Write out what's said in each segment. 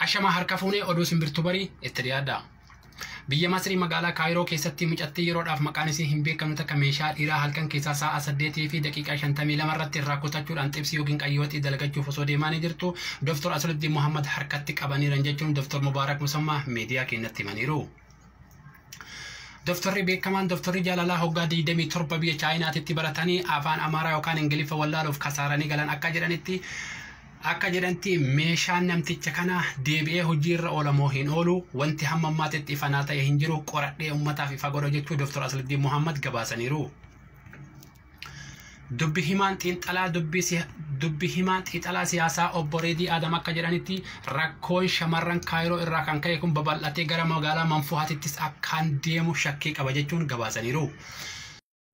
Ashamaa harka fuunee oduu simbirtuu barii itti dhiyaadha. Biyya Masrii magaalaa Kaayiroo keessatti mucattii yeroodhaaf maqaan isii hin beekamne takka meeshaa dhiiraa halkan keessaa sa'a saddeetii fi daqiiqaa shantamii lama irratti irraa kutachuudhaan xibsii yookiin qayyooxii dalagachuuf osoo deemaanii jirtu Dr. Asuluddin Muhammad harkatti qabaniiran jechuun Dr. Mubaarak Musammaa miidiyaa keenyatti himaniiru. Doftorri beekamaan doftorri jaalalaa hoggaa 27 biyya Chaayinaatitti baratanii afaan Amaaraa yookaan Ingiliffa wallaaluuf kasaaranii galan akka jedhanitti akka jedhanti meeshaan namticha kana deebi'ee hojii irra oola moo hin oolu wanti hamma ammaatitti ifa naa ta'e hin jiru qoradhee ummataaf ifa godha jechuu Doftor Asladdiin Muhammad gabaasaniiru. Dubbi himaan xiinxalaa dubbi si- dubbi himaan xiinxalaa siyaasaa obbo Reedii Aadam akka jedhanitti rakkoon shamarran Kaayiroo irraa kan ka'e kun babal'atee gara magaalaa Manfuhaatittis akkaan deemu shakkii qaba jechuun gabaasaniiru.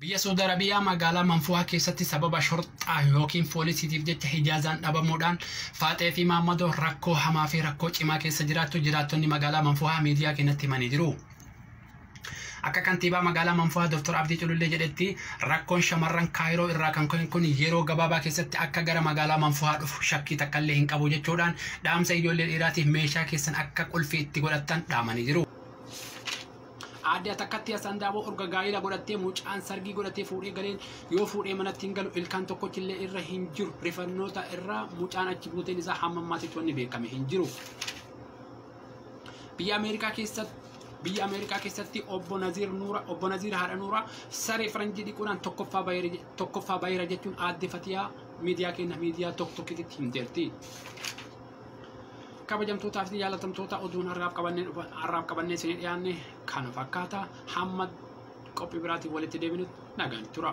Biyya Saudi Arabiyaa magaalaa Manfuhaa keessatti sababa shorxaa yookiin poolisiitiif jecha hijaazaan dhabamuudhaan Faaxee fi Maammadoo rakkoo hamaa fi rakkoo cimaa keessa jiraachuu jiraattonni magaalaa Manfuhaa miidiyaa keenyatti himanii jiru. Akka kantiibaa magaalaa Manfaa Dr. Abdii Culullee jedhetti rakkoon shamarran Kaayiroo irraa kan ka'e kun yeroo gabaabaa keessatti akka gara magaalaa Manfaa dhufu shakkii takkallee hin qabu jechuudhaan dhaamsa ijoollee dhiiraatiif meeshaa keessan akka qulfii itti godhattan dhaamanii jiru. Aadde Atakkatti Asandaaboo urga gaa'ila godhattee mucaan sargii godhatee fuudhee galeen yoo fuudhee manatti hin galu ilkaan tokkochi illee irra hin jiru rifannoota irraa mucaan achi buuteen isaa hamma ammaatitti wanni beekame hin jiru. Biyya Ameerikaa keessatti biyya Ameerikaa keessatti obbo Naziir Nuura obbo Naziir haadha Nuura saree faranjii dhiquudhaan tokkoffaa baheera je- tokkoffaa baheera jechuun aadde Fatiyaa miidiyaa keenya miidiyaa tokko tokkittitti himteerti. kabajamtootaa fi jaalatamtoota oduun har'aaf qabannee dhufa har'aaf qabannee isinii dhiyaanne kana fakkaata hamma qophii biraatiin walitti deebinutti nagaan tura.